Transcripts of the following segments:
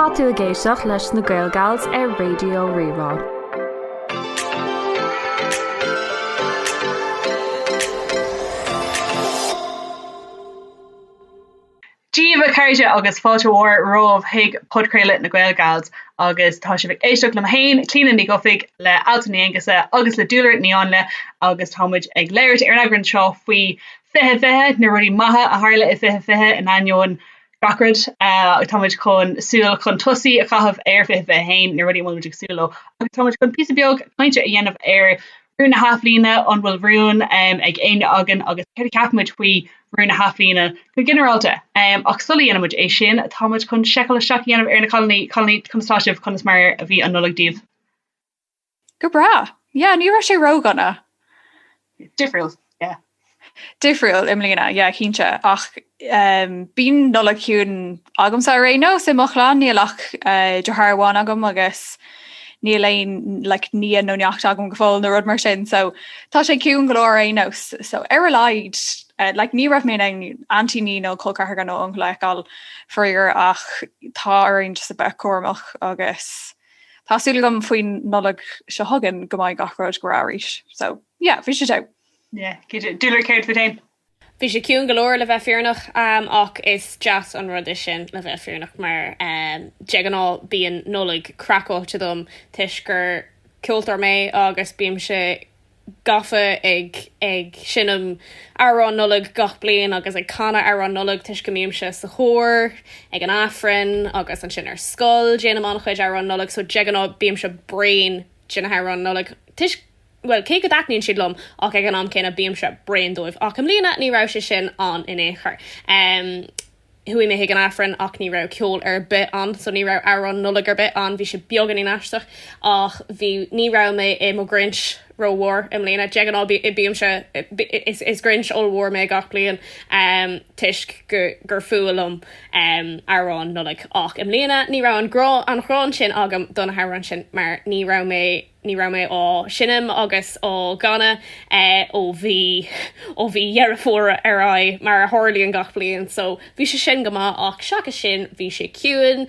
Tá tú ag éisteacht leis na Gaelgals ar Raidió Rí-Rá. Dia daoibh a chairde agus fáilte mhór romhaibh chuig podchraoladh na Gaelgals agus tá sibh ag éisteacht liom féin, Clíona Ní Chobhthaigh, le Alswyn Ní Aonghusa agus le Dúlra Ní Áinle agus táimid ag labhairt ar an eagrán seo faoi Fiche Fiche, na rudaí maithe a tharla i Fiche Fiche in ainneoin gach rud. Tá muid chun súil chun tosaí a chaitheamh ar Fiche Fiche hAon, na rudaí a bhfuil muid ag súil leo agus tá muid chun píosa beag cainte a dhéanamh ar rún na hathbhliana, an bhfuil rún ag éinne againn agus céard a cheapann muid faoi rún na hathbhliana go ginearálta. Ach sula ndéanann muid é sin, tá muid chun seiceáil isteach a dhéanamh ar na cailíní, a chailíní conas tá sibh, conas mar a bhí an Nollaig daoibh? Go breá! Yeah, ní raibh sé ró-dhona. Difriúil, yeah. Difriúil i mbliana, yeah, cinnte. Ach bíonn Nollaig ciúin agamsa ar aon nós i mo chlann, níl ach deartháir amháin agam agus níl aon like nia nó neacht agam go fóill nó rud mar sin, so tá sé ciúin go leor ar aon nós. So ar a laghad like ní raibh mé in ann aintíní nó col ceathracha nó uncail a fheiceáil faraor ach tá orainn just a bheith cúramach agus. Tá súil agam faoin Nollaig seo chugainn go mbeidh gach rud go breá arís. So, yeah, bhí sé go deas. Yeah, Dúlra céard fút féin. Bhí sé ciúin go leor le bheith fírinneach ach is deas an rud é sin le bheith fírinneach mar de ghnáth bíonn Nollaig craiceáilte dom toisc gur ceoltóir mé agus bímse gafa ag ag seinm amhráin Nollag gach bliain agus ag canadh amhráin Nollag toisc go mbímse sa chór ag an Aifreann agus ansin ar scoil déanaim an-chuid amhráin Nollag so de ghnáth bímse bréan de na hamhráin Nollag toisc bhuel cé go dtaitníonn siad liom ach ag an am céanna bímse bréan díobh ach i mbliana ní raibh sé sin ann in aon chor. Chuaigh mé chuig an Aifreann ach ní raibh ceol ar bith ann so ní raibh amhrán Nollag ar bith ann, bhí sé beagáinín aisteach ach bhí, ní raibh mé i mo Grinch rómhór i mbliana, de ghnáth bímse, is Grinch ollmhór mé gach bliain toisc gur fuath liom amhráin Nollag ach i mbliana ní raibh an gráin sin agam do na hamhráin sin mar ní raibh mé Ní raibh mé á seinm agus á gcanadh ó mhí ó mhí Dheireadh Fómhair ar aghaidh, mar a tharlaíonn gach bliain, so bhí sé sin go maith ach seachas sin bhí sé ciúin.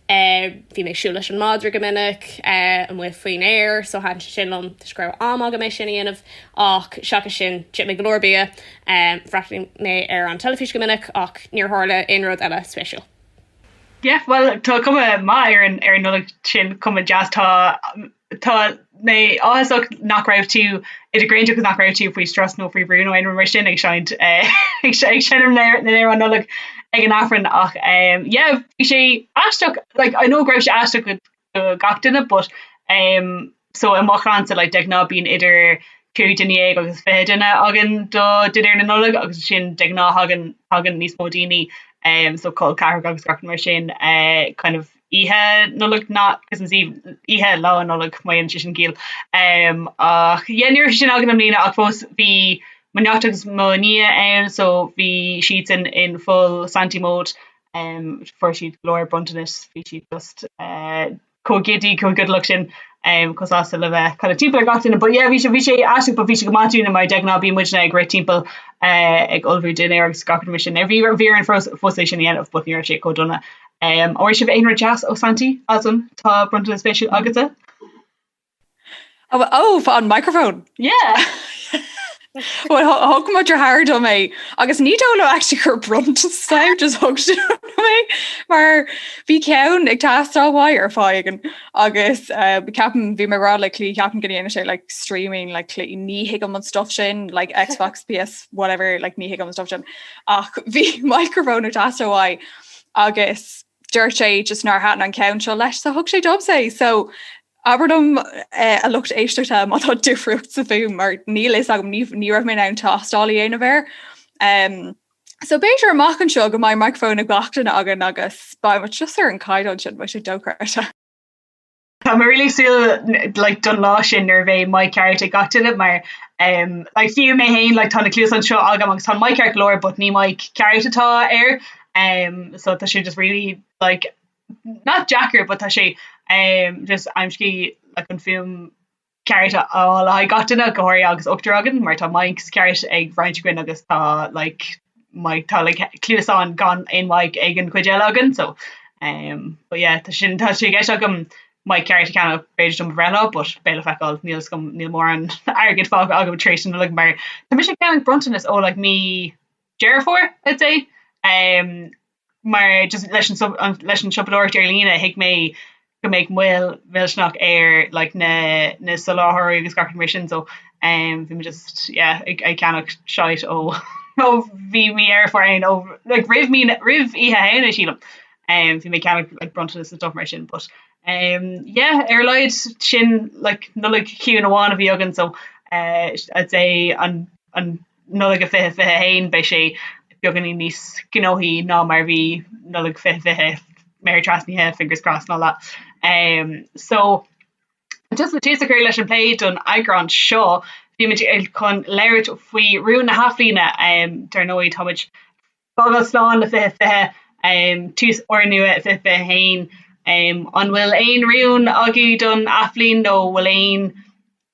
Bhí mé ag siúl leis an madra go minic amuigh faoin aer so thaitin sé sin liom toisc go raibh am agam é sin a dhéanamh ach seachas sin d'ith mé go leor bia. Bhreathnaigh mé ar an teilifís go minic ach níor tharla aon rud eile spéisiúil. Yeah bhuel tá cuma maith ar an ar an Nollaig sin cuma deas tá tá mé áthasach nach raibh tú idir ghranda agus nach raibh tú faoi strus nó faoi bhrú nó aon rud mar sin ag seinnt eh ag seinnt seinm in Éirinn an Nollaig ag an Aifreann ach eh yeah bhí sé aisteach like I know go raibh sé aisteach do gach duine but ehm so i mo chlannsa like de ghnáth bíonn idir cúig dhuine dhéag agus fiche duine againn do dinnéar na Nollag agus ansin de ghnáth thagann thagann níos mó daoine ehm so col ceathracha agus gach rud mar sin eh kind of oíche Nollag not Christmas Eve oíche lá Nollag má dhéanann sé sin ciall ehm ach yeah ní raibh sé sin againn i mbliana ach fós bhí mo neacht agus mo nia ann so bhí siadsan in full Santy mode Um fuair siad go leor bronntanais bhí siad just eh chomh giddy chomh giodamach sin um chomh sásta le bheith kind of timpeall ar gach duine but yeah bhí sé bhí sé aisteach but bhí sé go maith dúinne mar de ghnáth bíonn muidne ag rith timpeall eh ag ullmhú dinnéir agus gach rud mar sin bhí bhí orainn fós fós é sin a dhéanamh but ní raibh sé chomh dona. Um an bhfuair sibh aon rud deas ó Santaí tá a fhios agam tá bronntanas spéisiúil agatsa? Ó fá an microphone. Yeah! Bhuel thug mo dheartháir dom é agus ní dóigh liom actually gur bronntanas atá ann, just thug sé dom é mar bhí ceann ag teastáil uaidh ar feadh tamaill agus ceapaim bhí mé ag rá le Clí ceapaim go ndéanadh sé like streaming like Clí ní thuigim an stuff sin like Xbox PS whatever like ní thuigim an stuff sin ach bhí microphone ag teastáil uaidh agus dúirt sé just nár thaitin an ceann seo leis so thug sé domsa é so Abair liom a lucht éisteachta má tá difríocht sa fhuaim mar níl a fhios agam, ní raibh mé in ann tástáil a dhéanamh air. So b'fhéidir amach anseo go mbeidh micreafón ag gach duine againn agus beidh muid just ar an caighdeán sin, beidh sé dochreidte. Tá mé really ag súil like don lá sin nuair a bheidh mic ceart ag gach duine mar em like fiú mé fhéin like tá na cluasáin seo agam agus tá an mic ceart go leor but ní mic ceart atá air em so tá sé just really like not deacair but tá sé ehm just aimscí like an fuaim ceart a fháil le haghaidh gach duine go háirithe agus ochtar againn mar tá mics cearta ag roinnt againn agus tá like mic tá like cluasáin gan aon mhic ag an chuid eile againn so ehm but yeah tá sin tá sé i gceist agam mic ceart a cheannach b'fhéidir do mo bhreithlá but beidh le feiceáil níl a fhios agam níl mórán airgid fágtha agam tar éis sin like mar tá mise ag ceannach bronntanas ó like mí Deireadh Fómhair I'd say ehm mar just leis an leis an siopadóireacht ar líne thuig mé go mbeidh moill mhillteanach ar like na na soláthóirí agus gach rud mar sin so um bhí mé just yeah ag ag ceannach shite ó ó bhí mí ar fad féin ó like roimh mí roimh oíche Shamhna sílim um bhí mé ag ceannach like bronntanas agus stuff mar sin but um yeah ar a laghad níl ansin ach like Nollaig chiúin amháin a bhí againn so eh I'd say an an Nollaig 2021 go mbeidh sé beagáinín níos gnóthaí ná mar a bhí Nollaig 2020 méara trasnaithe fingers crossed and all that umm so just le tús a chur leis an bplé don eagrán seo bhíomar chun labhairt faoi rúin na hAthbhliana umm dar ndóigh táimid Fágáil slán le fiche 20, tús úrnua fiche 21. An bhfuil aon rún agaibh don athbhliain nó an bhfuil aon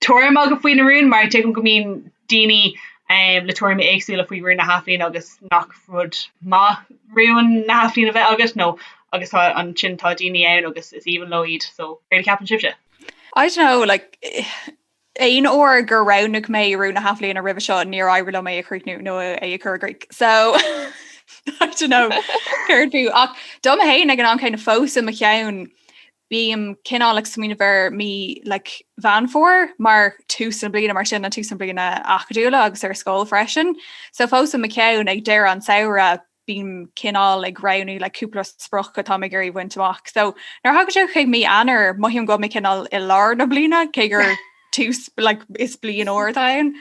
tuairim agaibh faoi na rúin? Mar a thuigim go mbíonn daoine le tuairimí éagsúla faoi rúin na hathbhliana agus nach rud maith rúin na hathbhliana bheith agat nó agus tá ansin tá daoine ann agus is aoibhinn leo iad so céard a cheapann sibhse? I don't know like Aon uair gur roghnaigh mé rún na hathbhliana roimhe seo níor éirigh liom é a chríochnú nó é a chur i gcrích. So I don't know an fiú é ach domsa féin ag an am céanna fós i mo cheann bím cineál ag smaoineamh ar mí like Mheán Fómhair mar tús na bliana mar sin an tús na bliana acadúla agus ar scoil freisin. So fós i mo ceann ag deireadh an samhradh bím cineál ag roghnú like cúpla sprioc atá mé ag iarraidh bhaint amach. So nuair thagann sé go dtí mí Eanáir, mothaím go bhfuil mé cineál i lár na bliana cé gur tús like, is bliain úr atá ann.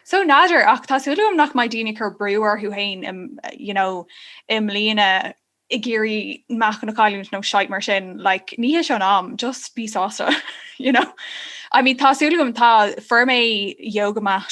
So n'fheadar ach tá súil agam nach mbeidh daoine cur brú orthu féin im, you know, i mbliana ag iarraidh meáchan a chailliúint nó shit mar sin, like, ní hé seo an am, just bí sásta, you know. I mean, tá súil agam tá fuair mé yoga mat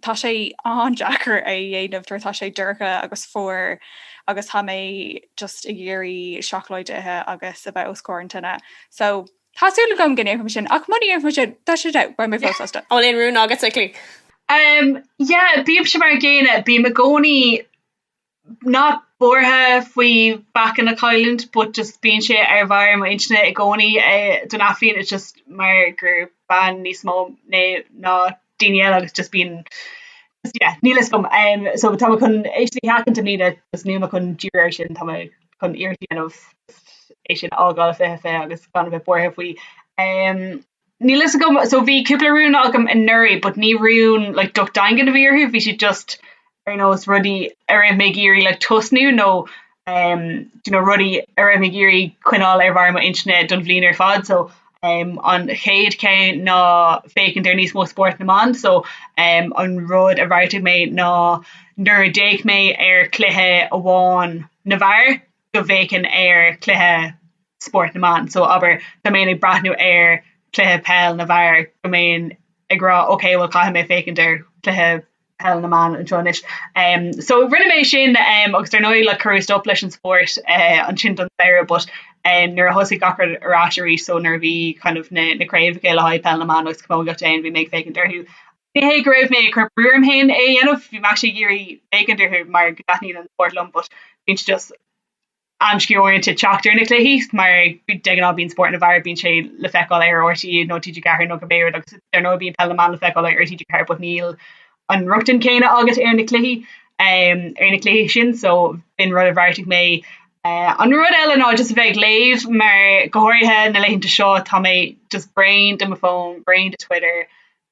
Tá sé an-deacair é a dhéanamh nuair atá sé dorcha agus fuar agus tá mé just ag iarraidh seacláid a ithe agus a bheith os comhair an tine. So tá súil agam go ndéanfaidh mé sin ach muna dhéanfaidh mé sin, tá sé, beidh mé fós sásta. An bhfuil aon rún agatsa, Clíodh? Yeah, bímse mar an gcéanna, bím i gcónaí Not buartha faoi mheáchan a chailliúint but just bíonn sé ar bharr mo intinne i gcónaí don athbhliain it's just mar gur bean níos mó mé ná daoine eile agus just bíonn just yeah níl a fhios agam em so tá mé chun é sin a sheachaint i mbliana just níl mé chun díriú ar sin tá mé chun iarracht a dhéanamh just é sin a fhágáil 2020 agus gan a bheith buartha faoi. Em. Níl fhios agam so bhí cúpla rún agam anuraidh but ní rúin like docht daingean a bhí orthu, bhí siad just ar nós rudaí a raibh mé ag iarraidh like tosnú nó ehm you know rudaí a raibh mé ag iarraidh coinneáil ar bharr m'intine don bhliain ar fad so ehm an chéad cheann ná féachaint ar níos mó spóirt na mban so ehm an rud a bheartaigh mé ná nuair a d'fhéach mé ar cluiche amháin na bhfear go bhféachfainn ar chluiche spóirt na mban so abair go mbeinn ag breathnú ar chluiche peil na bhfear go mbeinn ag rá ok bhuel caithfidh mé féachaint ar chluiche peil na mban anseo anois. Em so rinne mé sin em agus ar ndóigh like cuireadh stop leis an spórt eh ansin don samhradh but em nuair a thosaigh gach rud ar ais arís so nuair a bhí kind of na na craobhacha le haghaidh peil na mban agus camogaíocht ann bhí mé ag féachaint orthu Ní hé go raibh mé ag cur brú orm féin é a dhéanamh, bhí mé actually ag iarraidh féachaint orthu mar go dtaitníonn an spórt liom but bíonn sé just amscaí uaireanta teacht ar na cluichí mar de ghnáth bíonn spórt na bhfear bíonn sé le feiceáil ar RTÉ nó TG4 nó cibé rud agus dar ndóigh bíonn peil na mban le feiceáil ar TG4 but níl an rochtain céanna agat ar na cluichí ar na cluichí sin so b'in rud a bheartaigh mé. An rud eile ná just a bheith ag léamh mar go háirithe na laethanta seo tá mé just bréan de mo phone, bréan de Twitter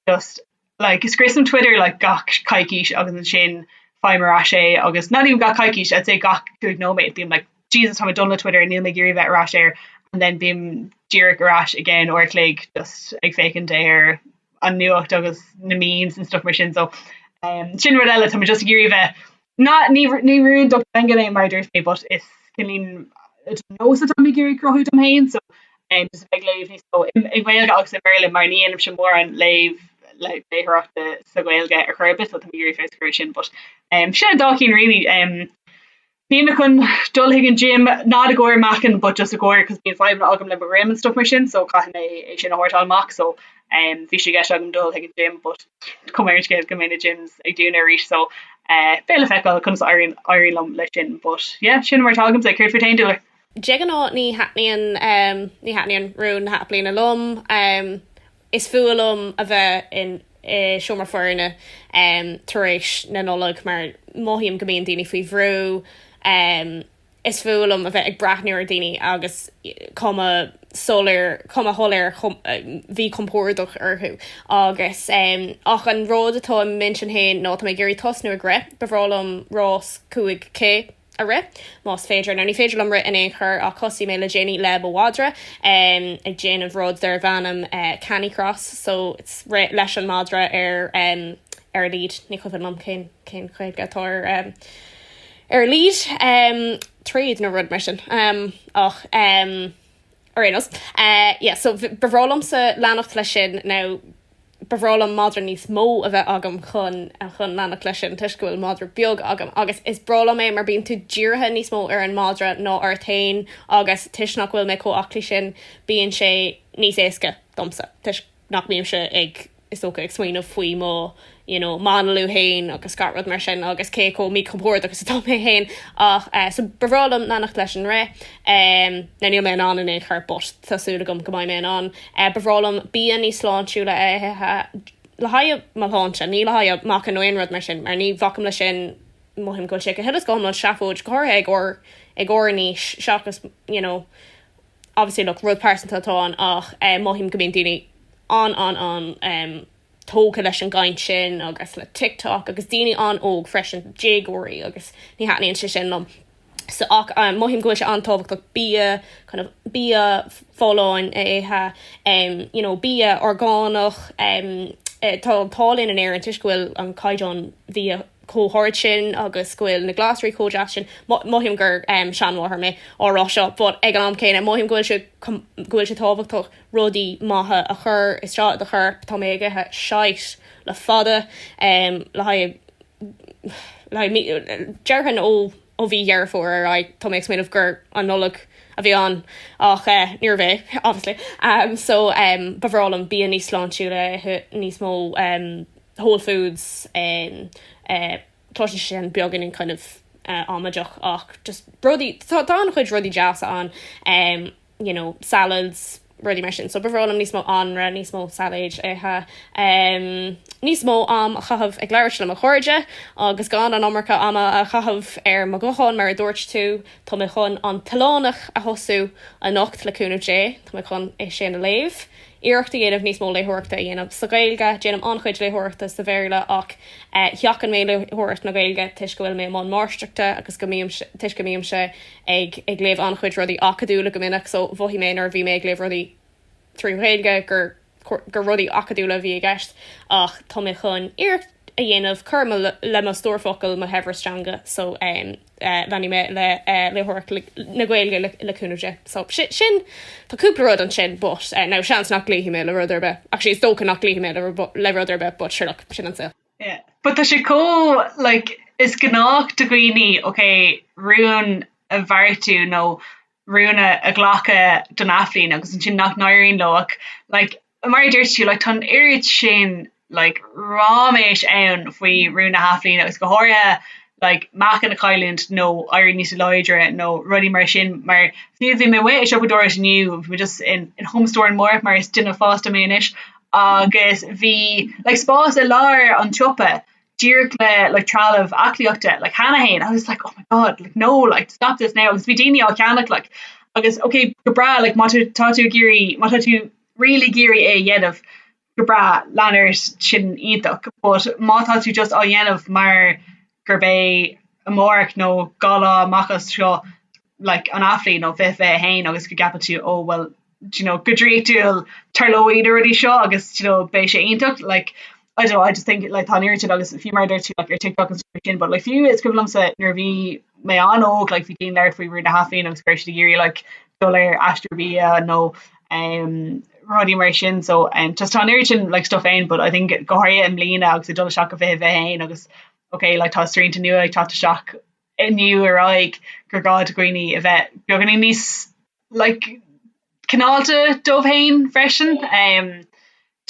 just like scriosaim Twitter like gach coicís agus ansin faighim ar ais é agus not even gach coicís I'd say gach cúig nóiméad bím like Jesus tá mé done le Twitter níl mé ag iarraidh a bheith ar ais air and then bím díreach ar ais again uair a chloig just ag féachaint ar an nuacht agus na memes and stuff mar sin so sin rud eile tá mé just ag iarraidh a bheith Na, ní, ní rún docht daingean é mar dúirt mé but is cineál de nós atá mé ag iarraidh a cruthú dom féin so em just a bheith ag léamh níos mó i, i nGaeilge agus i mBéarla mar ní dhéanaimse mórán léamh léitheoireachta sa Ghaeilge ar chor ar bith so tá mé ag iarraidh feabhas a chur ar sin but em sin an dá cinn really em bhí mé chun dul chuig an gym, not i gcomhair meáchain but just i gcomhair cos bíonn fadhbanna agam le mo dhroim and stuff mar sin so caithfidh mé é sin a shórtáil amach so Bhí sé i gceist agam dul chuig an gym but cuma ar an scéal go mbeidh na gyms ag dúnadh arís so beidh le feiceáil conas a éiríonn liom leis sin but yeah sin mar atá agamsa, céard fút féin Laura? De ghnáth ní thaitníonn ní thaitníonn rún na hathbhliana liom, is fuath liom a bheith i seomra foirne tar éis na Nollag mar mothaím go mbíonn daoine faoi bhrú. Is fuath liom a bheith ag breathnú ar dhaoine agus cuma soiléir, cuma shoiléir mhíchompordach orthu agus em. ach an rud atá i m'intinn féin ná tá mé ag iarraidh tosnú ag rith. Ba bhreá liom rás 5K a rith más féidir. Now ní féidir liom rith in aon chor ach thosaigh mé le déanaí le mo mhadra em ag déanamh rud darb ainm eh canicross so it's rith leis an madra ar em ar a lead. Ní cuimhin liom cén, cén Ghaeilge atá ar em. ar a lead téad nó rud mar sin ach ar aon nós yeah so ba bhreá liomsa leanacht leis sin nó ba bhreá liom madra níos mó a bheith agam chun chun leanacht leis sin toisc go bhfuil madra beag agam agus is breá liom é mar bíonn tú dírithe níos mó ar an madra ná ort féin agus toisc nach bhfuil mé chomh aclaí sin bíonn sé níos éasca domsa toisc nach mbímse ag, is dócha, ag smaoineamh faoi mo you know m'análú fhéin agus gach rud mar sin agus cé chomh míchompordach is atá mé fhéin ach eh so ba bhreá liom leanacht leis an rith em now níl mé in ann in aon chor but tá súil agam go mbeidh mé in ann. Eh ba bhreá liom bia níos sláintiúla a ithe le haghaidh mo shláinte, ní le haghaidh meáchain nó aon rud mar sin mar ní bhacaim leis sin, mothaím go bhfuil sé go huile is go hiomlán seafóid go háirithe ag ár ag ár n-aois seachas you know, obviously look rud pearsanta atá ann ach eh mothaím go mbíonn daoine an an an em tógtha leis an gcaint sin agus le TikTok agus daoine an-óg freisin, déagóirí agus ní thaitníonn sé sin liom. So ach em mothaím go bhfuil sé an-tábhachtach bia kind of bia folláin a ithe, em you know bia orgánach, em eh tá an t-ádh linn in Éirinn toisc go bhfuil an caighdeán bhia chomh hard sin agus go bhfuil na glasraí chomh deas sin. Mothaím gur seanmháthair mé á rá seo but ag an am céanna mothaím go bhfuil sé tábhachtach rudaí maithe a chur isteach i do chorp. Tá mé ag ithe shite le fada le haghaidh, déarfainn ó. Ó mhí Dheireadh Fómhair ar aghaidh tá mé ag smaoineamh gur an Nollaig a bhí ann ach níorbh é obviously so ba bhreá liom bia níos sláintiúla a ithe, níos mó whole foods, cloiseann sé sin beagainin kind of amaideach ach just rudaí, tá an-chuid rudaí deasa ann. you know, salads, rudaí mar sin. So ba bhreá liom níos mó anraith, níos mó sailéid a ithe, um, níos mó am a chaitheamh ag labhairt le mo chairde agus gan an iomarca ama a chaitheamh ar mo ghuthán mar a dúirt tú, tá mé chun An tOileánach a thosú anocht le cúnamh Dé, tá mé chun é sin a léamh, iarracht a dhéanamh níos mó léitheoireachta a dhéanamh sa Ghaeilge, déanaim an-chuid léitheoireachta sa Bhéarla ach eh sheachain mé léitheoireacht na Gaeilge toisc go bhfuil mé i mbun máistreachta agus go mbím, toisc go mbímse ag ag léamh an-chuid rudaí acadúla go minic so mhothaigh mé nuair a bhí mé ag léamh rudaí trí Ghaeilge gur gur rudaí acadúla a bhí i gceist ach tá mé chun iarracht a dhéanamh cur le mo stór focal mo shaibhreas teanga so em leanfaidh mé le eh léitheoireacht na Gaeilge le le cúnamh Dé. So si sin tá cúpla rud ansin but eh now seans nach gcloífidh mé le rud ar bith actually is dócha nach gcloífidh mé le le rud ar bith but sure look sin an saol. Yeah, but tá sé comh like is gnách do dhaoine okay rún a bheartú nó rún a a ghlacadh don athbhliain agus ansin nach n-éiríonn leo ach like mar a dúirt tú like tá an oiread sin like ráiméis ann faoi rún na hathbhliana agus go háirithe like meáchan a chailliúint nó éirí níos láidre nó rudaí mar sin mar bhí bhí mé amuigh ag siopadóireacht inniu bhí mé just in in Homestore and More mar is duine fásta mé anois agus bhí like spás i lár an tsiopa díreach le like trealamh aclaíochta like cheana fhéin I was like oh my god like no like stop this now agus bhí daoine á cheannach like agus ok go breá like má tá tú ag iarraidh má tá tú really ag iarraidh é a dhéanamh go breá lean ort sin iontach but má tá tú just á dhéanamh mar gurb é amárach nó dhá lá amach as seo like an athbhliain nó fiche fiche haon agus go gceapfadh tú oh well do you know go draíochtúil tarlóidh na rudaí seo agus do you know beidh sé iontach like I don't know I just think like tá an oiread agus fiú mar a deir tú like ar TikTok agus rudaí mar sin but like fiú is cuimhin liomsa nuair a bhí mé an-óg like bhí daoine ag labhairt faoi rúin na hathbhliana agus go raibh siad ag iarraidh like dul ar aiste bia nó um rudaí mar sin so um just tá an oiread sin like stuff ann but I think go háirithe i mbliana agus ag dul isteach go fiche fiche haon agus ok like tá srianta nua ag teacht isteach inniu ar aghaidh gur gá do dhaoine a bheith beagáinín níos like cineálta dóibh féin freisin ehm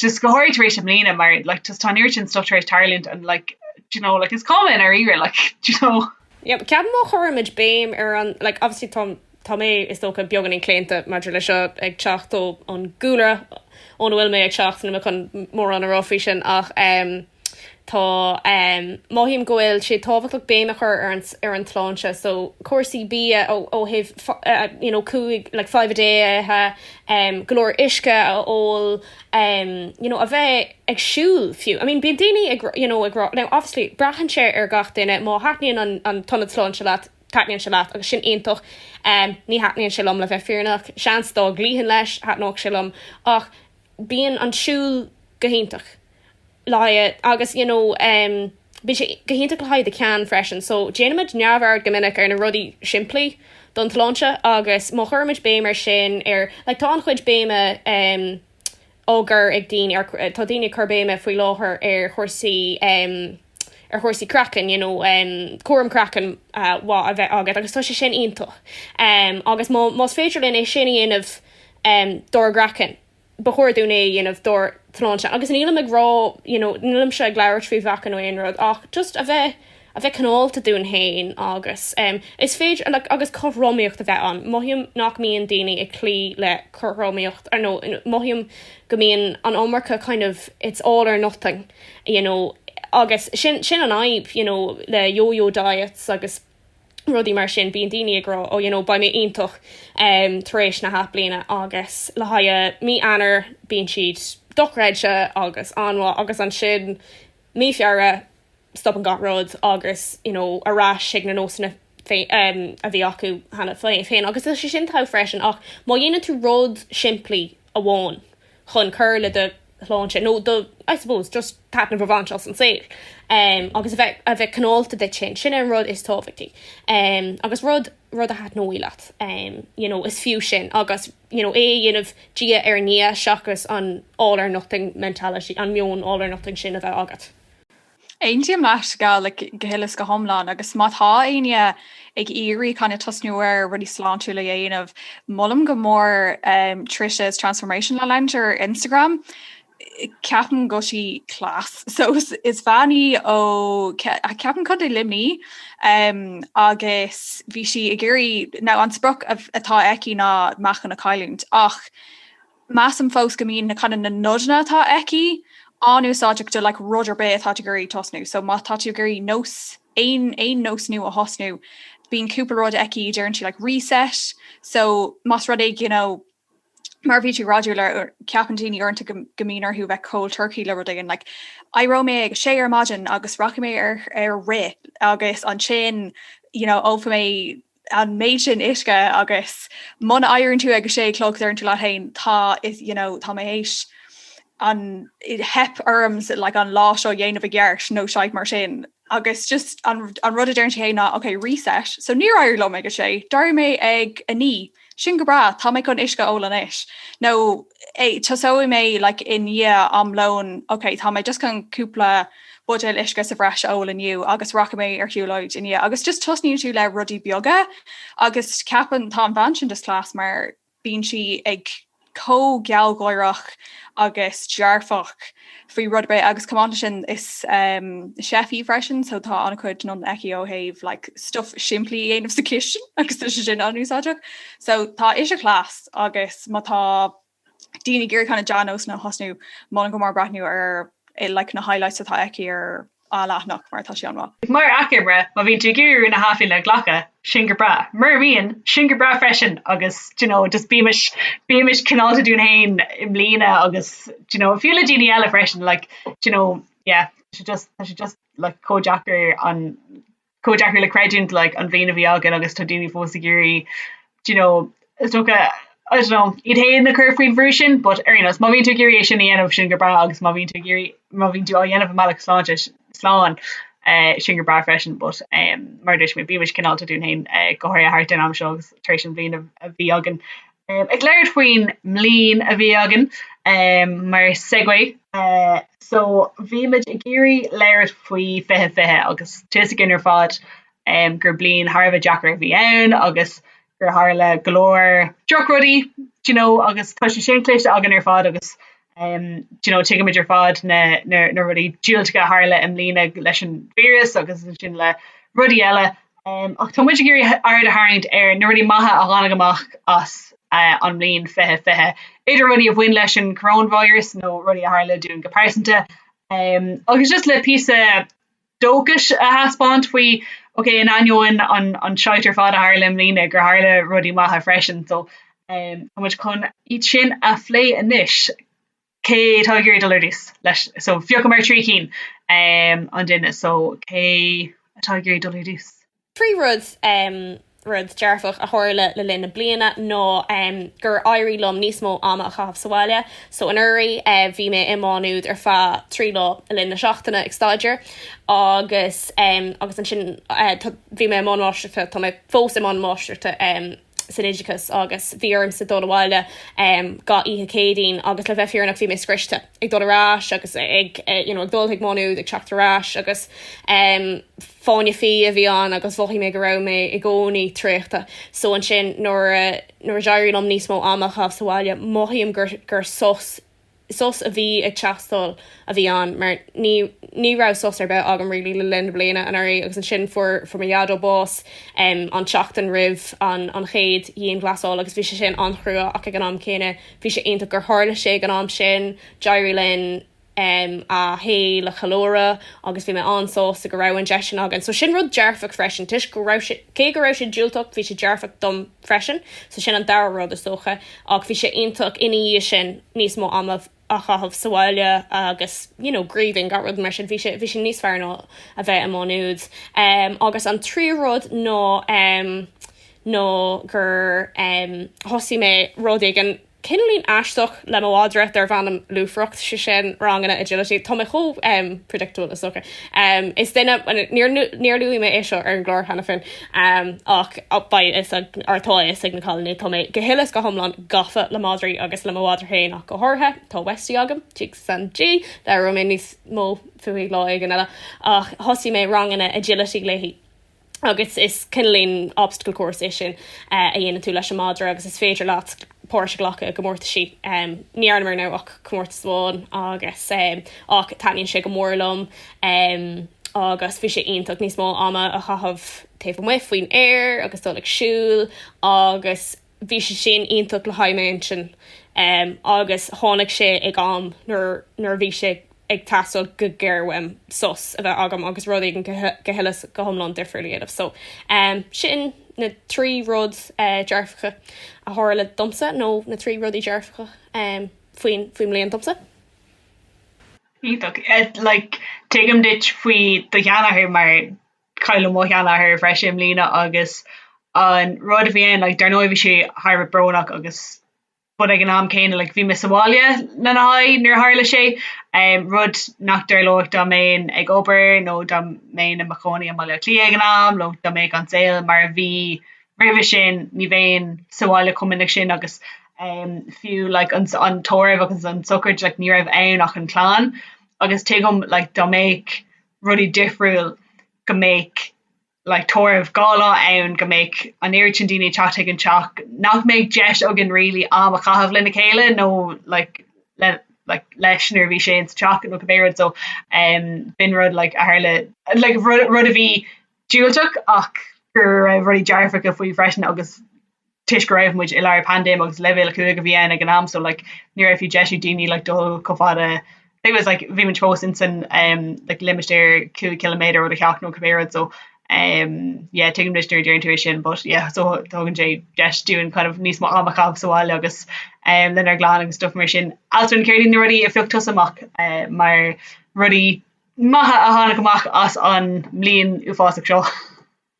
just go háirithe tar éis i mbliana mar like just tá an oiread sin stuff tar éis tarlú and and like do you know like is cuma i ndáiríre like do you know. Yep ceapaim má chuirimid béim ar an like obviously tá tá mé is dócha beagáinín claonta maidir le seo ag teacht ón gcúlra óna bhfuil mé ag teacht níl mé chun mórán a rá faoi sin ach ehm Tá. Mothaím go bhfuil sé tábhachtach béim a chur ar an tsláinte so cúrsaí bia ó thaobh you know cúig like five a day a ithe, go leor uisce a ól, you know a bheith ag siúl fiú. I mean bíonn daoine ag you know ag rá, now obviously braitheann sé ar gach duine, má thaitníonn an an t-ionad sláinte leat, taitníonn sé leat agus sin iontach. Ní thaitníonn sé liom le bheith fírinneach, seans dá gcloífinn leis, thaitneodh sé liom ach, bíonn an siúl go hiontach le haghaidh agus you know em bíonn sé go hiontach le haghaidh do cheann freisin so déanaimid neamhaird go minic ar na rudaí simplí don tsláinte agus má chuirimid béim ar sin ar like tá an-chuid béime em á cur ag daoine ar tá daoine ag cur béime faoi láthair ar chúrsaí em ar chúrsaí craicinn, you know, um, cúram craicinn uh, maith a bheith agat agus tá sé sin iontach. Um, agus má, más féidir linn é sin a dhéanamh um, dár gcraiceann, ba chóir dúinn é dhéanamh dár sláinte. Agus nílim ag rá, you know, nílimse ag labhairt faoi mheáchan nó aon rud, ach just a bheith a bheith cineálta dúinn féin agus um, is féidir like, agus cothromaíocht a bheith ann. Mothaím nach mbíonn daoine ag cloí le cothromaíocht, mothaím go mbíonn an iomarca kind of it's all or nothing. you know, agus sin, sin an fhadhb, you know, le yo-yo diets agus rudaí mar sin, bíonn daoine ag rá, oh, you know, beidh mé iontach um, tar éis na hathbhliana agus le haghaidh mí Eanáir bíonn siad dochreidte agus an-mhaith agus ansin mí Feabhra stopann gach rud agus, you know, ar ais ag na nósanna a bhí acu cheana féin agus tá sé sin togha freisin ach má dhéanann tú rud simplí amháin chun cur le do shláinte nó do, I suppose, just taitneamh a bhaint as an saol agus a bheith cineálta duit féin, sin é an rud is tábhachtaí agus rud rud a thaitneoidh leat, you know, is fiú sin agus, you know, é a dhéanamh diaidh ar ndiaidh seachas an all or nothing mentality, an meon all or nothing sin a bheith agat. Aontaím le Pascal go huile is go hiomlán agus má tá éinne ag iarraidh kind of tosnú ar rudaí sláintiúla a dhéanamh molaim go mór Trish's Transformation le leanúint ar Instagram. Ceapaim go bhfuil sí class. So is bean í ó ceapaim Contae Luimní agus bhí sí ag iarraidh, now an sprioc atá aici ná meáchan a chailliúint ach Measaim fós go mbíonn kinda na nodanna atá aici an-úsáideach do like rud ar bith atá tú ag iarraidh tosnú. So má tá tú ag iarraidh nós, aon, aon nós nua a thosnú, bíonn cúpla rud aici a deireann sí like reset so más rud é you know, mar a bhí tú ag rá Siún, ceapann daoine uaireanta go, go mbíonn orthu bheith cold turkey le rud éigin like éireoidh mé ag a sé ar maidin agus rachaidh mé ar, ar rith agus ansin you know, ólfaidh mé, an méid sin uisce agus muna éiríonn tú ag a sé a chlog deireann tú leat féin tá you know tá mé éis ag teip orm like an lá seo dhéanamh i gceart nó shit mar sin agus just an an rud a deireann sí ná ok reset so níor éirigh liom ag a sé d'éirigh mé ag a naoi sin go breá tá mé chun uisce a ól anois nó tosóidh mé like i ndiaidh am lóin ok tá mé just chun cúpla buidéil uisce sa bhreis a ól inniu agus rachaidh mé ar shiúlóid ina dhiaidh agus just tosnaíonn tú le rudaí beaga agus ceapaim tá an bhean sin just class mar bíonn sí ag chomh gealgháireach agus dearfach faoi rud ar bith agus chomh maith leis sin is ehm chef í freisin so tá an-chuid nodanna aici ó thaobh like stuff simplí a dhéanamh sa chistin agus tá sé sin an-úsáideach so tá ise class agus má tá daoine ag iarraidh kind of dea-nósanna a thosnú. Molaim go mór breathnú ar like na highlights atá aici ar a leathanach mar tá sí an-mhaith. Mar achoimre, má bhíonn tú ag iarraidh rún athbhliana a ghlacadh, sin go breá. Mura mbíonn, sin go breá freisin agus do you know just bímis bímis cineálta dúinn féin i mbliana agus do you know i dtreo daoine eile freisin like do you know yeah tá sé just tá sé just like chomh deacair an chomh deacair le creidiúint like an bhliain a bhí againn agus tá daoine fós ag iarraidh do you know is dócha I don't know iad fhéin a chur faoin mbrú sin but ar aon nós má bhíonn tú ag iarraidh é sin a dhéanamh sin go breá agus má bhíonn tú ag iarraidh má bhíonn tú á dhéanamh i mbealach sláintiúil slán eh sin go breá freisin but eh mar a dúirt mé bímis cineálta dúinn fhéin eh go háirithe thart ar an am seo agus tar éis an bhliain a bhí againn. Ehm, ag labhairt faoin mbliain a bhí againn, ehm, mar segue. Eh, so, bhí muid ag iarraidh labhairt faoi fiche fiche agus tá a fhios againn ar fad, ehm, gur bliain thar a bheith deacair a bhí ann agus gur tharla go leor drochrudaí, d'you know, agus tá sé sin cloiste againn ar fad agus, Umm you know tuigimid ar fad na na na rudaí diúltacha a tharla i mbliana leis an víreas agus ansin le rudaí eile umm ach tá muid ag iarraidh aird a tharraingt ar na rudaí maithe a tháinig amach as eh an mbliain fiche fiche. Idir rudaí a bhain leis an coróinvíreas nó rudaí a tharla dúinn go pearsanta umm agus just le píosa dóchais a thaispeáint faoi ok in ainneoin an shite ar fad a tharla i mbliana gur tharla rudaí maithe freisin so tá muid chun iad sin a phlé anois. Cé tá ag iarraidh dul ar dtús leis so phiocamar trí cinn an duine so cé atá ag iarraidh dul ar dtús? Tríú rud, rud dearfach, a tharla le linn na bliana ná gur éirigh liom níos mó ama a chaitheamh sa bhaile. So anuraidh bhí mé i Má Nuad ar feadh trí lá le linn na seachtaine ag staidéar agus agus ansin bhí mé i mbun máistreachta, tá mé fós i mbun máistreachta, san oideachas agus bhí ormsa dul abhaile gach oíche Céadaoin agus le bheith fírinneach bhí mé scriosta ag dul ar ais agus ag you know ag dul chuig Má Nuad ag teacht ar ais agus em fáinne fí a bhí ann agus mhothaigh mé go raibh mé i gcónaí traochta so ansin nuair a nuair a d'éirigh liom níos mó ama a chaitheamh sa bhaile mothaím gur gur sos sos a bhí ag teastáil a bhí ann mar ní ní raibh sos ar bith agam really le linn na bliana anuraidh agus ansin fuair fuair mo Dhaideo bás em an tseachtain roimh an an chéad dhianghlasáil agus bhí sé sin an-chrua ach ag an am céanna bhí sé iontach gur tharla sé ag an am sin d'éirigh linn em a shaol a cheiliúradh agus bhí mé an-sásta go raibh an deis sin againn so sin rud dearfach freisin toisc go raibh sé cé go raibh sé diúltach bhí sé dearfach dom freisin. So sin an dara rud is dócha. Ach bhí sé iontach ina dhiaidh sin níos mó ama a chaitheamh sa bhaile agus you know grieving gach rud mar sin. Bhí sé bhí sin níos fearr ná a bheith i Má Nuad. Um, agus an tríú rud ná um, nó gur um, thosaigh mé rud éigin Cineálín aisteach le mo mhadra darbh ainm lúfaireacht, sé sin ranganna agility. Tá mé chomh predictable is dócha. Is duine, níor luaigh mé é seo ar an gclár cheana féin ach beidh fhios ag, or tá fhios ag na cailíní, tá mé go huile is go hiomlán gafa le madraí agus le mo mhadra féin ach go háirithe. Tá Westie agam, Jigs and G, labhróidh mé níos mó fúithi lá éigin eile, ach thosaigh mé ranganna agility léi. agus is cineálín, obstacle course, é sin a dhéanann tú leis an madra agus is féidir leat páirt a ghlacadh i gcomórtaisí. Ní dhearnamar ar ndóigh ach comórtas amháin agus ach taitníonn sé go mór liom agus bhí sé iontach níos mó ama a chaitheamh taobh amuigh faoin aer agus dul ag siúl agus bhí sé sin iontach le haghaidh m'inchinn agus tháinig sé ag am nuair a bhí sé ag teastáil go géar uaim sos a bheith agam agus rud éigin go huile 's go hiomlán difriúil a dhéanamh. So sin na trí rudaí dearfacha a tharla domsa nó na trí rudaí dearfacha faoin mbliain domsa. Iontach. Like tuigim duit faoi do sheanathair mar Cailleadh mo sheanathair freisin i mbliana agus an rud a bhí ann like dar ndóigh bhí sé thar a bheith brónach agus but ag an am céanna like bhí mé sa bhaile lena haghaidh nuair a tharla sé, ehm, rud nach dtarlódh dá mbeinn ag obair nó dá mbeinn i mo chónaí i mBaile Átha Cliath ag an am nó dá mbeadh an saol mar a bhí roimhe sin, ní bheinn sa bhaile chomh minic sin agus ehm fiú like an an tórramh agus an tsochraid like ní raibh ann ach an clann agus tuigim like dá mbeadh rudaí difriúil go mbeadh like tórramh dhá lá ann go mbeadh an oiread sin daoine ag teacht chuig an teach nach mbeadh deis againn really am a chaitheamh lena chéile nó like le like leis nuair a bhí sé insa teach nó cibé rud so um, b'in rud like a tharla like rud, rud a bhí diúltach ach go raibh rudaí dearfacha faoi freisin agus toisc go raibh muid i lár paindéim agus leibhéal a cúig a bhí ann ag an am so like ní raibh fiú deis ag daoine like dul chomh fada leis an teach like bhí muid fós ins an umm like limistéar cúig ciliméadar ó do theach nó cibé rud so umm yeah tuigim duit nuair a deireann tú é sin but yeah so tugann sé deis dúinn kind of níos mó am a chaitheamh sa bhaile agus umm lenár gclann agus stuff mar sin. Alswyn céard iad na rudaí a phioc tusa amach eh mar rudaí maithe a tháinig amach as an mbliain uafásach seo?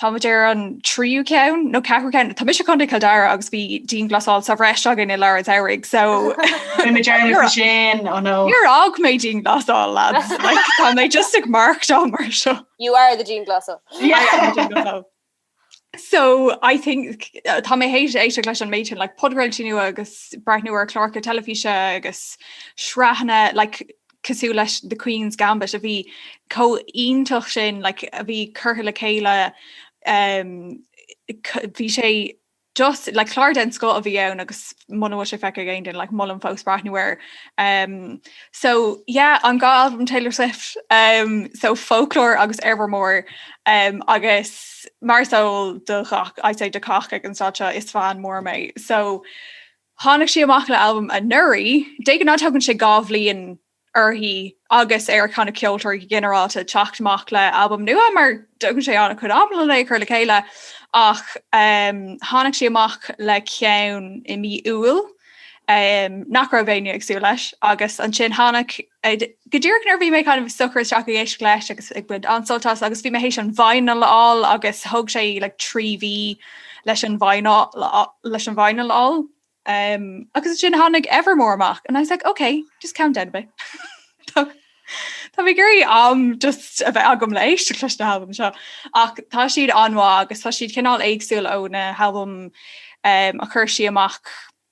Tá muid ar an tríú ceann nó ceathrú ceann. Tá mise i gContae Chill Dara agus bhí dianghlasáil sa bhreis againn i lár an samhraidh so mé dearmad sin ó nó. Níor fhág mé dianghlasáil lads Tá mé just ag marcáil mar seo. You are the dianghlasáil. So I think uh, tá mé th'éis éisteacht leis an méid sin podchraoltaí nua agus breathnú ar chláracha teilifíse agus sraitheanna like cosúil leis The Queen's Gambit a bhí chomh hiontach sin like a bhí curtha le chéile um bhí sé just like clár den scoth a bhí ann agus muna bhfuil sé feicthe ag aon duine like molaim fós breathnú air um so yeah an dhá albam Taylor Swift um so Folklore agus Evermore um agus mar is eol do ghach I'd say do chách ag an staid seo is fan mór mé so Tháinig sí amach le albam anuraidh, de ghnáth tógann sé dhá bhliain uirthi agus ar a cheann na ceoltóirí go ginearálta teacht amach le albam nua mar tógann sé an-chuid ama len é a chur le chéile ach tháinig sí amach le ceann i mí Iúil nach raibh éinne ag súil leis agus ansin tháinig Go díreach nuair a bhí mé kind of socair isteach ag éisteacht leis agus ag baint an-sult as agus bhí mé théis an vinyl a fháil agus thóg sé like trí mhí leis an vinyl a fháil um agus ansin tháinig Evermore amach and I was like ok, just calm down a bit Tá mé ag iarraidh am just a bheith agam le éisteacht leis na halbaim seo ach tá siad an-mhaith agus tá siad cineál éagsúil ó na halbaim um a chuir sí amach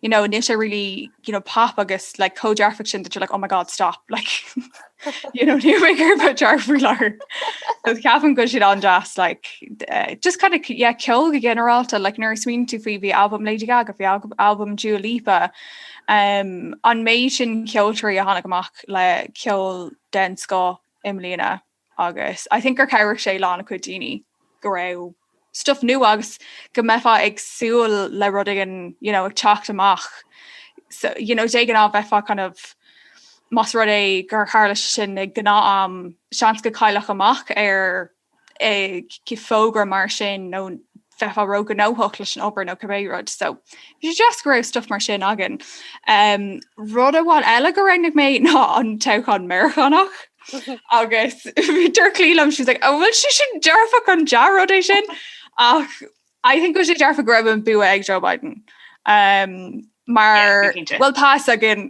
you know nish I really you know pop agus like code jar fiction that you're like oh my god stop like you know new maker about jar for lar Catherine good shit on just like uh, just kind of yeah kill the general to like nurse mean to Phoebe album Lady Gaga fi album Ju Lipa um an Mason Kyotri a Hanagamach le kill den sco imlina agus I think gur chabhraigh sé le an-chuid daoine go raibh stuff nua agus go mbeifeá ag súil le rud éigin you know, ag teacht amach. So, you know, de ghnáth bheifeá kind of más rud é gur tharla sé sin ag gnáth-am, seans go gcaillfeá amach ar fógra mar sin nó bheifeá ró-ghnóthach leis an obair nó cibé rud so bhí sé deas go raibh stuff mar sin againn. Um, rud amháin eile go roghnaigh mé ná an toghchán Meiriceánach agus bhí dúirt Clí liom she was like an bhfuil sé sin dearfach an dea-rud é sin ach I think go bhfuil sé dearfach go raibh an bua ag Joe Biden. Um, Mar, bhuel tá fhios againn,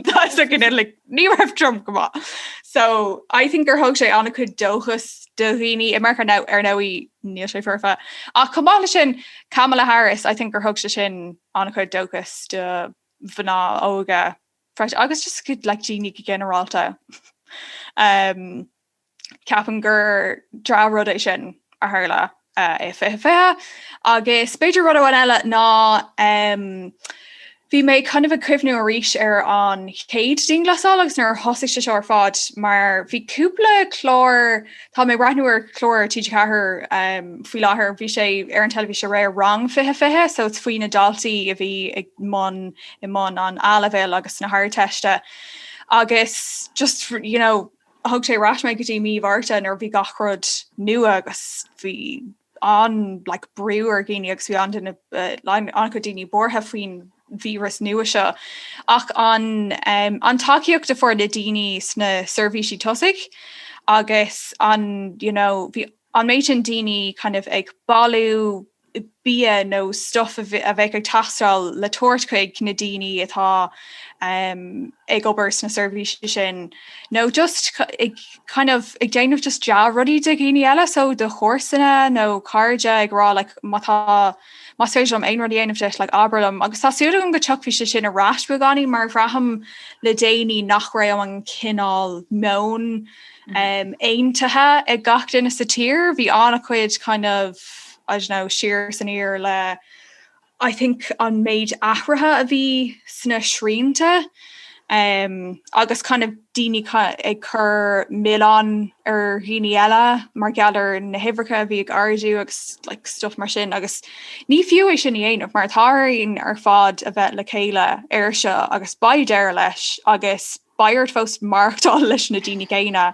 tá fhios againn é, like, ní raibh Trump go maith. So, I think gur thug sé an-chuid dóchas do dhaoine i Meiriceá, now, ar ndóigh, níl sé foirfe. Ach chomh maith leis sin, Kamala Harris, I think gur thug sé sin an-chuid dóchas do mhná óga freisin, agus just go, like, daoine go ginearálta. Um. Ceapaim gur dea-rud é sin a tharla i 2020 agus b'fhéidir rud amháin eile ná bhí mé kind of ag cuimhniú arís ar an chéad dianghlasáil agus nuair a thosaigh sé seo ar fad mar bhí cúpla clár tá mé ag breathnú ar chlár ar TG4 faoi láthair bhí sé ar an teilifís aréir rang 2020 so it's faoi na daltaí a bhí i mbun i mbun an A-leibhéal agus na hArdteiste agus just you know Thug sé ar ais mé go dtí mí Mhárta nuair a bhí gach rud nua agus bhí an like brú ar dhaoine agus bhí an-duine like an-chuid daoine buartha faoin víreas nua seo. Ach an um an tacaíocht a fuair na daoine sna seirbhísí tosaigh agus an you know bhí an méid sin daoine kind of ag bailiú bia nó stuff a bheadh ag teastáil le tabhairt chuig na daoine atá ag obair sna seirbhísí sin nó just a kind of ag déanamh just dea-rudaí do dhaoine eile so do chomharsana nó cairde ag rá like má tá más féidir liom aon rud a dhéanamh duit like abair liom agus tá súil agam go dtiocfaidh sé sin ar ais beagáinín mar braithim le déanaí nach raibh an cineál meoin aontaithe ag gach duine sa tír. Bhí ana chuid kind of I don't know siar san aer le I think an méid athraithe a bhí sna srianta um, agus kind of daoine ag cur milleán ar dhaoine eile mar gheall ar na huimhreacha a bhí ag ardú agus like stuff mar sin agus ní fiú é sin a dhéanamh mar tá orainn ar fad a bheith le chéile air seo agus beidh orainn agus beidh orainn fós maireachtáil leis na daoine céanna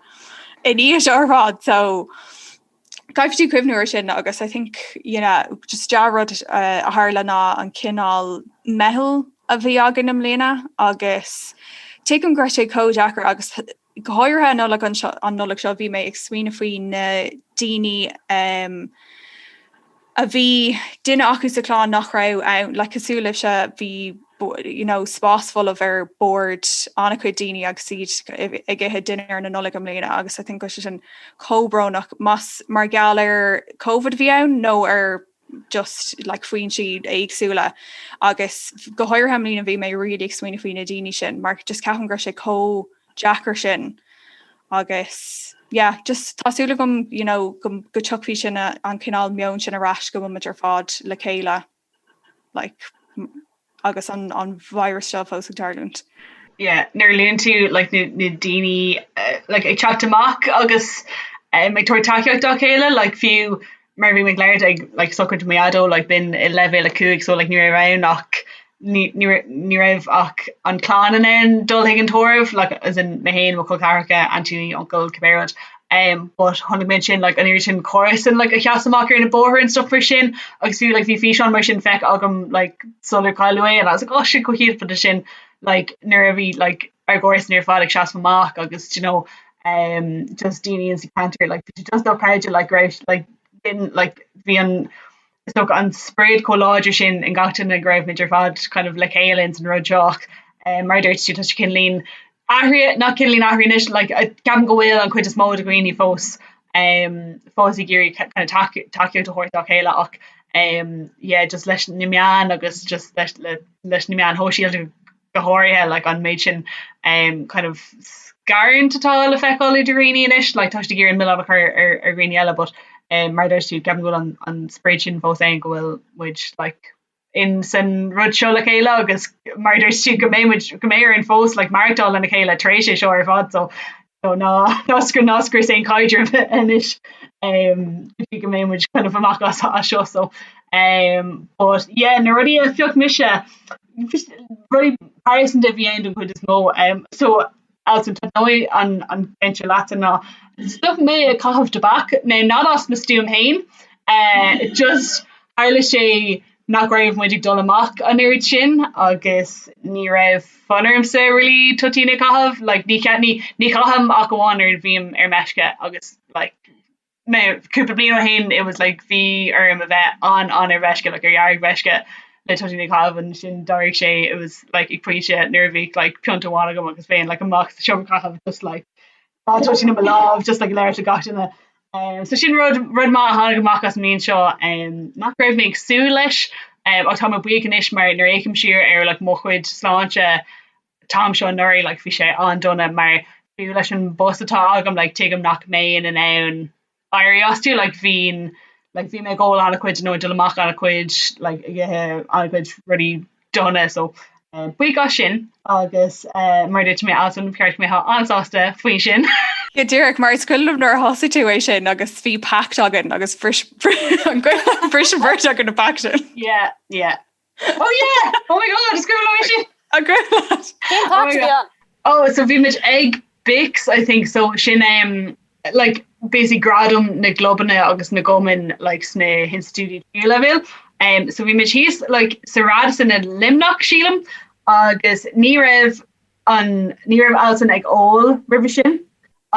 inár dtír ar fad so Caithfidh tú cuimhniú ar sin agus I think you know, just deá rud uh, a tharla ná an cineál meitheal a bhí againn i mbliana agus tuigim go raibh sé chomh deacair agus go háirithe an Nollaig an Nollaig seo bhí mé ag smaoineamh faoi na daoine um, a bhí duine acu sa chlann nach raibh ann, like cosúil libhse, bhí you know spás folamh ar bord an-chuid daoine agus iad ag ithe dinnéar na Nollag i mbliana agus I think tá sé sin chomh brónach más mar gheall ar Covid a bhí ann nó ar just like fáthanna éagsúla agus go háirithe i mbliana bhí mé really ag smaoineamh faoi na daoine sin mar just ceapaim go raibh sé chomh deacair sin agus yeah just tá súil agam you know go go tiocfaidh sin a an cineál meoin sin ar ais go mbeimid ar fad le chéile like agus an an víreas seo fós ag tarlúint. Yeah, nuair a luann tú like, na, na daoine uh, like, ag teacht amach agus um, ag tabhairt tacaíocht dá chéile like, fiú mar bhí muid go léir ag like sochraid mo dhaideo like bhí muid i leibhéal a cúig so like ní raibh ann ach ní ní raibh ní raibh ach an clann in ann dul chuig an tórramh like as in mé fhéin mo chol ceathracha auntie uncle cibé rud um but chonaic mé ansin like an oiread sin comharsan like a sheas amach ar na bóithre and stuff mar sin agus fiú like bhí físeán mar sin feicthe agam like sular cailleadh é and I was like oh shit go hiontach but ansin like nuair a bhí like ár gcomharsana ar fad ag seasamh amach agus do you know um just daoine in sa ceantar like bhí sé just dochreidte like go raibh like bhíonn like bhí an is dócha an spiorad chomh láidir sin in gach duine go raibh muid ar fad kind of le chéile ins an rud seo ach um mar a dúirt tú tá sé cineál ag athrú nó cineál ag athrú anois like ceapaim go bhfuil an chuid is mó de dhaoine fós um fós ag iarraidh kind of taca- tacaíocht a thabhairt dá chéile ach um yeah just leis na meáin agus just leis le leis na meáin shóisialta go háirithe like an méid sin um kind of scarúint atá le feiceáil idir dhaoine anois like tá sé ag iarraidh an milleán a chur ar ar dhaoine eile but um mar a dúirt tú ceapaim go bhfuil an an sprid sin fós ann go bhfuil muid like in san rud seo le chéile agus mar a dúirt tú go mbeidh muid go mbeidh orainn fós like maireachtáil lena chéile tar éis é seo ar fad so Nó ná scrios, ná scrios an caidreamh anois ehm go dtí go mbeidh muid kind of amach as seo so ehm but yeah na rudaí a phioc mise rudaí pearsanta a bhí ann den chuid is mó ehm so Alison taitneoidh an an ceann seo leatsa ná stop mé ag caitheamh tobac, now not as mo stuaim féin eh just tharla sé nach raibh muid ag dul amach an oiread sin agus ní raibh fonn ormsa really toitín a chaitheamh like ní ní ní chaithim ach amháin nuair a bhím ar meisce agus like mé cúpla bliain ó shin it was like bhí orm a bheith an an ar mheisce like ar dhearg mheisce le toitín a chaitheamh ansin d'athraigh sé it was like ag pointe nuair a bhí like pionta amháin agam agus théinn like amach sa seomra caitheamh just like Toitín i mo lámh just like ag labhairt le gach duine eh, so sin rud rud maith a tháinig amach as an mbliain seo em, nach raibh mé ag súil leis em, ach tá mé buíoch anois mar nuair a fhéachaim siar ar like mo chuid sláinte an t-am seo anuraidh like bhí sé an-dona mar fiú leis an bpost atá agam like tuigim nach mbeinn in ann éirí as you like bhínn like bhí mé ag ól an-chuid nó ag dul amach an-chuid like ag ithe an-chuid rudaí dona so buíoch as sin agus mar a dúirt mé Alison ba cheart go mbeadh an-sásta faoi sin. Go díreach mar is cuimhin liom nuair a thosaigh tú é sin agus bhí pact againn agus bhris an bhris an bheirt againn an pact sin. Yeah yeah. Oh yeah! Oh my god! Is cuimhin liom é sin! An cuimhin leat? Cén pact a bhí ann? Oh so bhí muid ag BICS I think so sin é like basically gradam na gclubanna agus na gcumann like sna hinstitiúidí tríú leibhéal so bhí muid thíos like sa Radisson i Luimneach sílim agus ní raibh An ní raibh Alison ag ól roimhe sin?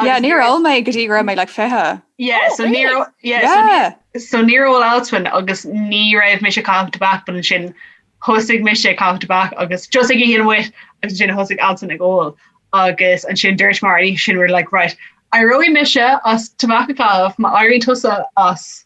Yeah, níor ól mé go dtí go raibh mé like fiche. Yeah, so níor ól, yeah, so Yeah! so níor ól Alison agus ní raibh mise ag caitheamh tobac, but ansin thosaigh mise ag caitheamh tobac agus just ag oíche amuigh agus ansin thosaigh Alison ag ól agus ansin dúramar an oíche sin we were like right, éireoidh mise as tobac a chaitheamh má éiríonn tusa as.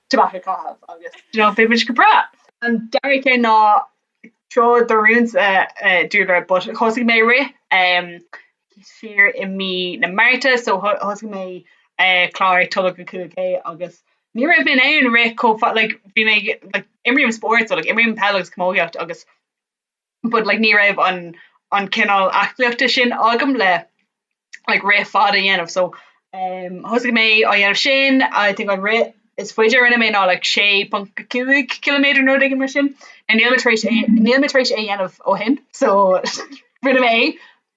Deoch a chaitheamh agus you know beimid go breá. An dara ceann ná treo d'oiriúint a dúradh but thosaigh mé rith ehm siar i mí na Márta so thosaigh mé eh clár tolg go cúig K agus ní raibh mé in ann rith chomh fada like bhí mé like imrím spórt so like imrím peil agus camógaíocht agus but like ní raibh an an cineál aclaíochta sin agam le like rith fada a dhéanamh so um thosaigh mé á dhéanamh sin I think an rith is faide a rinne mé ná like 6.5 kilometre nó rud éigin mar sin now níl mé tar éis é níl mé tar éis é a dhéanamh ó shin so rinne mé é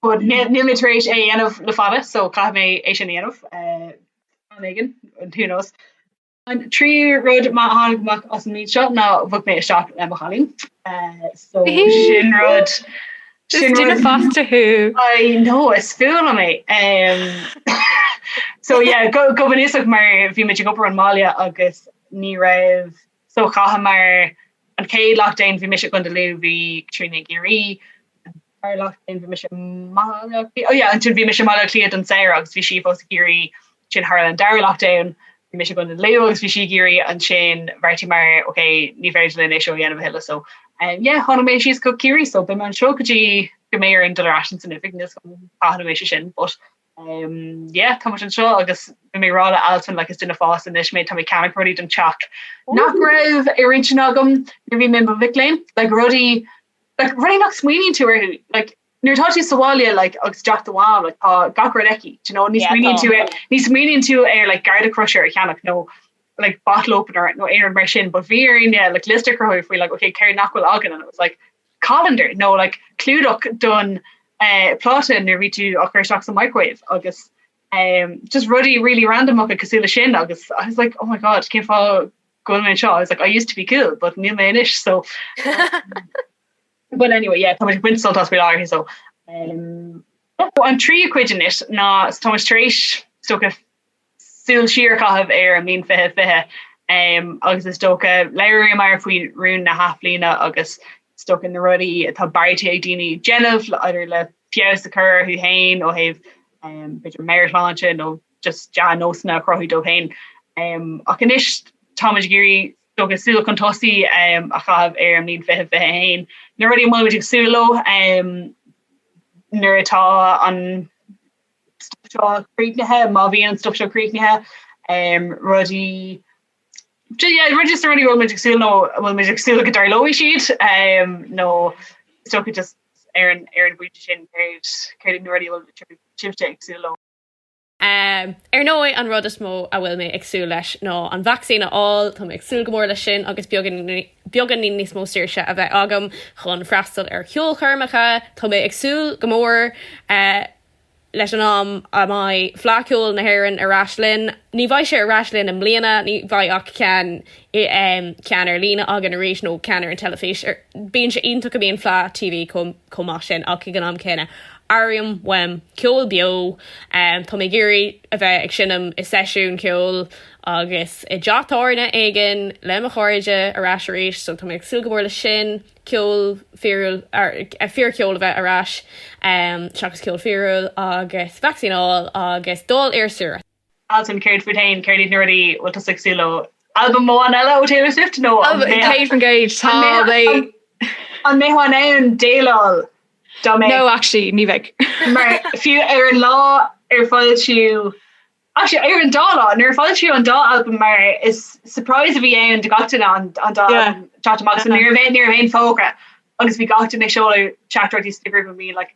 but níl níl mé tar éis é a dhéanamh le fada so caithfidh mé é sin a dhéanamh am éigin who knows. An tríú rud maith a tháinig amach as an méid seo ná bhog mé isteach le mo chailín. So sin rud. Is duine fásta thú. I know, is fuath liom é. So yeah, go go bunúsach mar bhí muid ag obair ón mbaile agus ní raibh, so chaitheamar an chéad lockdown bhí mise i gContae Lú, bhí Caitríona i gCiarraí, Dar leat féin bhí mise i mBaile Átha Cliath? Oh yeah ansin bhí mise i mBaile Átha Cliath don samhradh agus bhí sí fós i gCiarraí ansin tharla an dara lockdown bhí mise i gContae Lú agus bhí sí i gCiarraí ansin bheartaíomar ok ní féidir linn é seo a dhéanamh a thuilleadh so um yeah tháinig mé síos go Ciarraí so beimid anseo go dtí go mbeidh orainn dul ar ais chun na hoifige níl fhios cén uair a bheidh sé sin but um yeah táimid anseo agus bhí mé ag rá le Altan like is duine fásta anois mé tá mé ag ceannach rudaí don teach nach raibh ar intinn agam nuair a bhí mé i mo mhac léinn like rudaí Like rudaí nach smaoiníonn tú orthu like nuair atá tú sa bhaile like agus i dteach do mham like tá gach rud aici do you know ní smaoiníonn tú ar ní smaoiníonn tú ar like garlic crusher a cheannach nó like bottle opener nó aon rud mar sin but bhí orainne like liosta a cruthú faoi like ok céard nach bhfuil againn and it was like colander nó like clúdach don eh pláta nuair atá tú á chur isteach sa microwave agus eh just rudaí really randamacha cosúil leis sin agus I was like oh my God cén fáth Go bhfuil mé anseo, I was like, I used to be cool but níl mé anois so But anyway yeah tá muid ag baint sult as faoi láthair so um an tríú cuid anois ná so tá muid tar éis is dócha súil siar a chaitheamh ar an mbliain fiche fiche um agus is dócha labhraíomar faoi rún na hathbhliana agus is dócha na rudaí atá beartaithe ag daoine déanamh maidir le feabhas a chur orthu féin ó thaobh um b'fhéidir meabhairshláinte nó just dea-nósanna a chruthú dóibh féin. Ach anois táimid ag iarraidh is dócha súil chun tosaí a chaitheamh ar an mbliain 2021. Na rudaí a bhfuilimid ag súil leo nuair atá an stuif seo críochnaithe, má bhíonn an stuif seo críochnaithe, rudaí rud is na rudaí a bhfuil muid ag súil nó a bhfuil muid ag súil go dtarlóidh siad nó is dócha just ar an bpointe sin céard na rudaí a bhfuil sibhse ag súil leo. Ar ndóigh, an rud is mó a bhfuil mé ag súil leis ná an vacsaín a fháil. Tá mé ag súil go mór leis sin agus beagáinín níos mó saoirse a bheith agam chun freastal ar cheolchoirmeacha. Tá mé ag súil go mór leis an am a mbeidh Fleadh Cheoil na hÉireann ar ais linn. Ní bheidh sé ar ais linn i mbliana, ní bheidh ach ceann ar líne againn arís nó ceann ar an teilifís. Bíonn sé iontach go mbíonn Fleadh TV. chomh maith sin ach ag an am céanna airím uaim ceol beo. Tá mé ag iarraidh a bheith ag seinm i seisiún ceoil agus i dteach tábhairne éigin le mo chairde ar ais arís so tá mé ag súil go mór leis sin, ceol fíor, fíorcheol a bheith ar ais seachas ceol fíorúil agus vacsaíneáil agus dul ar saoire. Alison, céard fút féin? Céard iad na rudaí bhfuil tusa ag súil leo? Albam amháin eile ó Taylor Swift nó an mbeifeá in ann déileáil dá mbeadh? No actually, ní bheinn. Mar fiú ar an lá ar foilsíodh, actually ar an dá lá, nuair a foilsíodh an dá albam mar is surprise a bhí ann do gach duine an dá albam ag teacht amach, so ní raibh aon fógra agus bhí gach duine ag seoladh teachtaireachtaí sna grúpaí, like.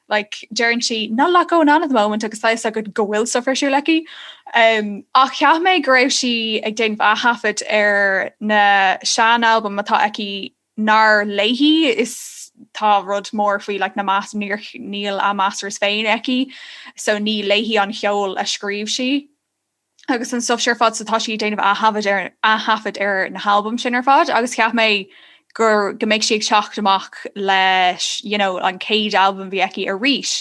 like deireann sí not a lot going on at the moment agus tá a fhios agat go bhfuil stuff ar siúl aici. Um, ach cheap mé go raibh sí ag déanamh athaifead ar na sean album atá aici nár léi iad tá rud mór faoi like na mas níor níl na masters féin aici so ní léi an ceol a scríobh sí. agus an stuff sin ar fad so tá sí ag déanamh ath-thaifead ar ath-thaifead ar na halbaim sin ar fad agus cheap mé go go mbeidh sí ag teacht amach leis you know an céad albam bhí aici arís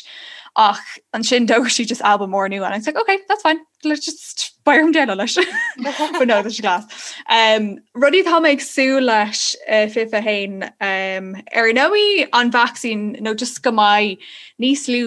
ach ansin d'fhógair sí just albam mór nua and I was like okay that's fine let's just b'fhearr dom déileáil leis but no that's class um, rudaí tá mé ag súil leis uh, fiche a haon um, ar ndóigh an vacsaín nó no, just go mbeidh níos lú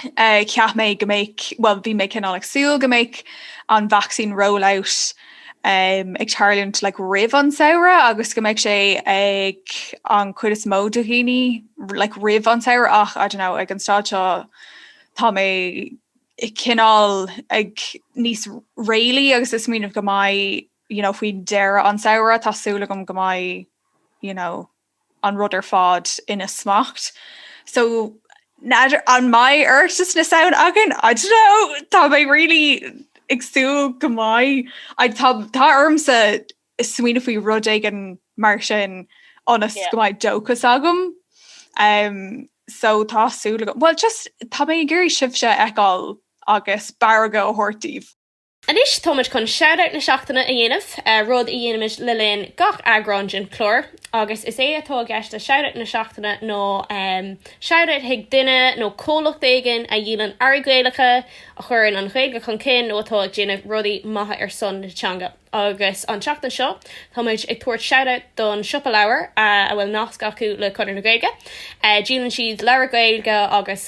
cheap mé go mbeidh, bhuel bhí mé cineál ag súil go mbeidh an vacsaín rollout um, ag tarlúint like, roimh an samhradh agus go mbeidh sé ag an cuid is mó de dhaoine like, roimh an samhradh ach I don't know, ag an staid seo tá mé cineál ag níos réalaí agus ag smaoineamh go mbeidh you know, faoi dheireadh an samhradh tá súil agam go mbeidh you know, an rud ar fad faoi smacht. So n'fheadar an mbeidh Oireachtas na Samhna againn? I don't know! Tá mé really ag súil go mbeidh. I- tá- Tá ormsa smaoineamh faoi rud éigin mar sin ionas Yeah. go mbeidh dóchas agam. Um, so tá súil agam. Well just tá mé ag iarraidh sibhse a fheiceáil agus barróg a thabhairt daoibh. Anois táimid chun Shoutout na Seachtaine a dhéanamh, rud a dhéanaimid le linn gach eagrán den chlár, agus is é atá i gceist le Shoutout na Seachtaine ná shoutout chuig duine nó comhlacht éigin a dhíolann earraí Gaelacha, a chuireann an Ghaeilge chun cinn nó atá ag déanamh rudaí maithe ar son na teanga. Agus an tseachtain seo táimid ag tabhairt shoutout don Siopa Leabhar a bhfuil nasc acu le Conradh na Gaeilge. Díolann siad leabhair Ghaeilge agus.